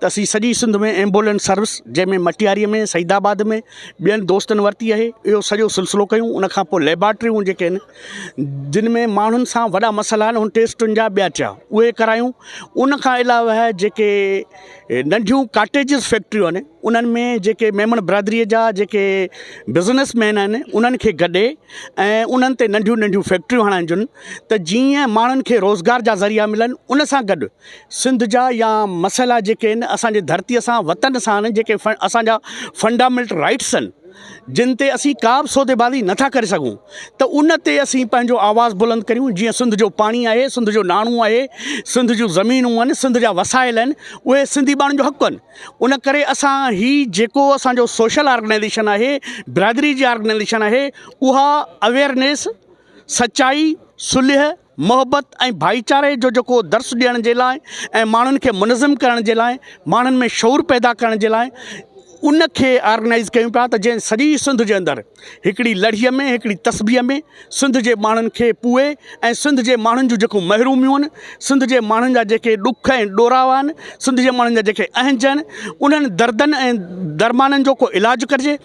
ته اسين سڄي سنڌ ۾ ايمبولينس سروس جنهن ۾ مٽياري ۾ سعيد آباد ۾ ٻين دوستن ورتي آهي اهو سڄو سلسلو ڪيون ان کان پوء ليبارٽريون جيڪي آهن جن ۾ ماڻهن سان وڏا مسئلا آهن ان ٽيسٽن جا ٻيا ٽيا اهي ڪرايون ان کان علاوه جيڪي ننڍيون ڪاٽيجز فيڪٽريون آهن انهن ۾ جيڪي ميمڻ برادري جا جيڪي بزنس مين آهن انهن کي گڏي ۽ انهن تي ننڍيون ننڍيون فيڪٽريون هڻائجن ته جيئن ماڻهن کي روزگار جا ذريعا ملن ان سان گڏ سنڌ جا يا مسئلا جيڪي آهن اسان جي ڌرتي سان وطن سان آهن جيڪي اسان جا فنڊامينٽ رائيٽس آهن جن تي اسين ڪا به سودي بازي نه ٿا ڪري سگهون ته ان تي اسين پنهنجو آواز بلند ڪريون جيئن سنڌ جو پاڻي آهي سنڌ جو ناڻو آهي سنڌ جون زمينون آهن سنڌ جا وسائل آهن اهي سنڌي ٻانهن جو حق آهن ان ڪري اسان هي جيڪو اسان جو سوشل آرگنائيزيشن آهي برادري جي آرگنائيزيشن آهي اها اويرنيس سچائي صلح محبت ۽ ڀائيچاري جو جيڪو درس ڏيڻ جي لاء ۽ ماڻهن کي منظم ڪرڻ جي لاء ماڻهن ۾ شعور پيدا ڪرڻ جي لاء ان کي آرگنائز ڪيون پيا ته جنهن سڄي سنڌ جي اندر هڪڙي لڙهي ۾ هڪڙي تسبيح ۾ سنڌ جي ماڻهن کي پوئي ۽ سنڌ جي ماڻهن جون جيڪو محروميون آهن سنڌ جي ماڻهن جا جيڪي ڏک ۽ ڏورا آهن سنڌ جي ماڻهن جا جيڪي اهنج آهن انهن دردن ۽ درمانن جو ڪو علاج ڪرجي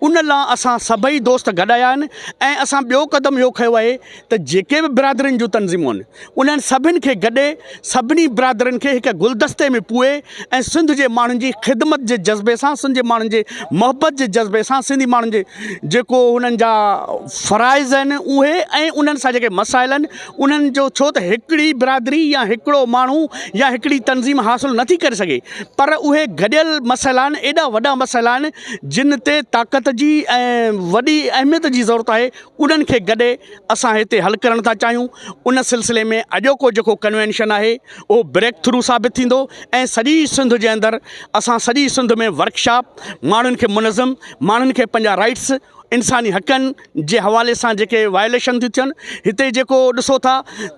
ان لا اسان سڀئي دوست گڏ آيا آهن ۽ اسان ٻيو قدم اهو کيو آهي ته جيڪي به برادرين جون تنظيمون آهن انهن سڀن کي گڏي سڀني برادرين کي هڪ گلدستي ۾ پوئي ۽ سنڌ جي ماڻهن جي خدمت جي جذبي سان سنڌ جي ماڻهن جي محبت جي جذبي سان سنڌي ماڻهن جي جيڪو انهن جا فرائض آهن اهي ۽ انهن سان جيڪي مسائل آهن انهن جو ڇو ته هڪڙي برادري يا هڪڙو ماڻهو يا هڪڙي تنظيم حاصل نٿي ڪري سگهي پر اهي گڏيل مسئلا آهن ايڏا وڏا مسئلا آهن جن تي طاقت جي ۽ وڏي اهميت جي ضرورت آهي انهن کي گڏي اسان هتي حل ڪرڻ ٿا چاهيون ان سلسلي ۾ اڄوڪو جيڪو ڪنوينشن آهي اهو بريڪ ٿرو ثابت ٿيندو ۽ سڄي سنڌ جي اندر اسان سڄي سنڌ ۾ ورڪ شاپ ماڻهن کي منظم ماڻهن کي پنهنجا رائيٽس انساني حقن جي حوالي سان جيڪي وايوليشن ٿيون ٿين هتي جيڪو ڏسو ٿا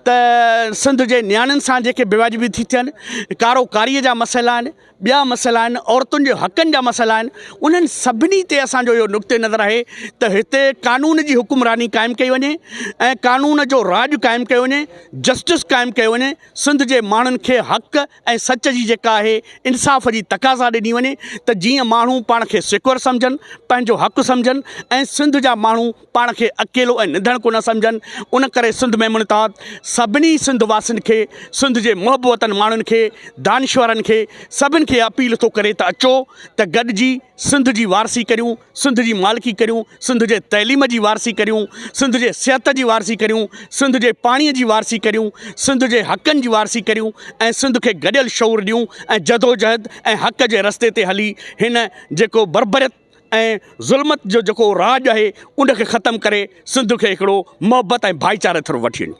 ته سنڌ جي نياڻين سان جيڪي بيواجبي ٿي ٿين ڪارو ڪاري جا مسئلا آهن ٻيا مسئلا آهن عورتن جي حقن جا مسئلا آهن انهن سڀني تي اسان جو اهو نقطه نظر آهي ته هتي قانون جي حڪمراني قائم ڪئي وڃي ۽ قانون جو راڄ قائم ڪيو وڃي جسٽس قائم ڪيو وڃي سنڌ جي ماڻهن کي حق ۽ سچ جي جيڪا آهي انصاف جي تقاضا ڏني وڃي ته جيئن ماڻهو پاڻ کي سيڪور سمجهن پنهنجو حق سمجهن ۽ سنڌ جا ماڻهو پاڻ کي اڪيلو ۽ نڌڻ ڪونه سمجهن ان ڪري سنڌ ميمڻ اتحاد سڀني سنڌ واسين کي سنڌ جي محب وطن ماڻهن کي دانشورن کي سڀن کي اپيل ٿو ڪري ته اچو ته گڏجي سنڌ جي وارثي ڪريون سنڌ جي مالڪي ڪريون سنڌ جي تعليم جي وارثي ڪريون سنڌ جي صحت جي وارثي ڪريون سنڌ جي پاڻي جي وارثي ڪريون سنڌ جي حقن جي وارثي ڪريون ۽ سنڌ کي گڏيل شعور ڏيون ۽ جدوجهد ۽ حق جي رستي تي هلي هن جيڪو بربريت ۽ ظلمت جو جيڪو راڄ آهي ان کي ختم ڪري سنڌ کي هڪڙو محبت ۽ ڀائيچاري طرف وٺي وڃو.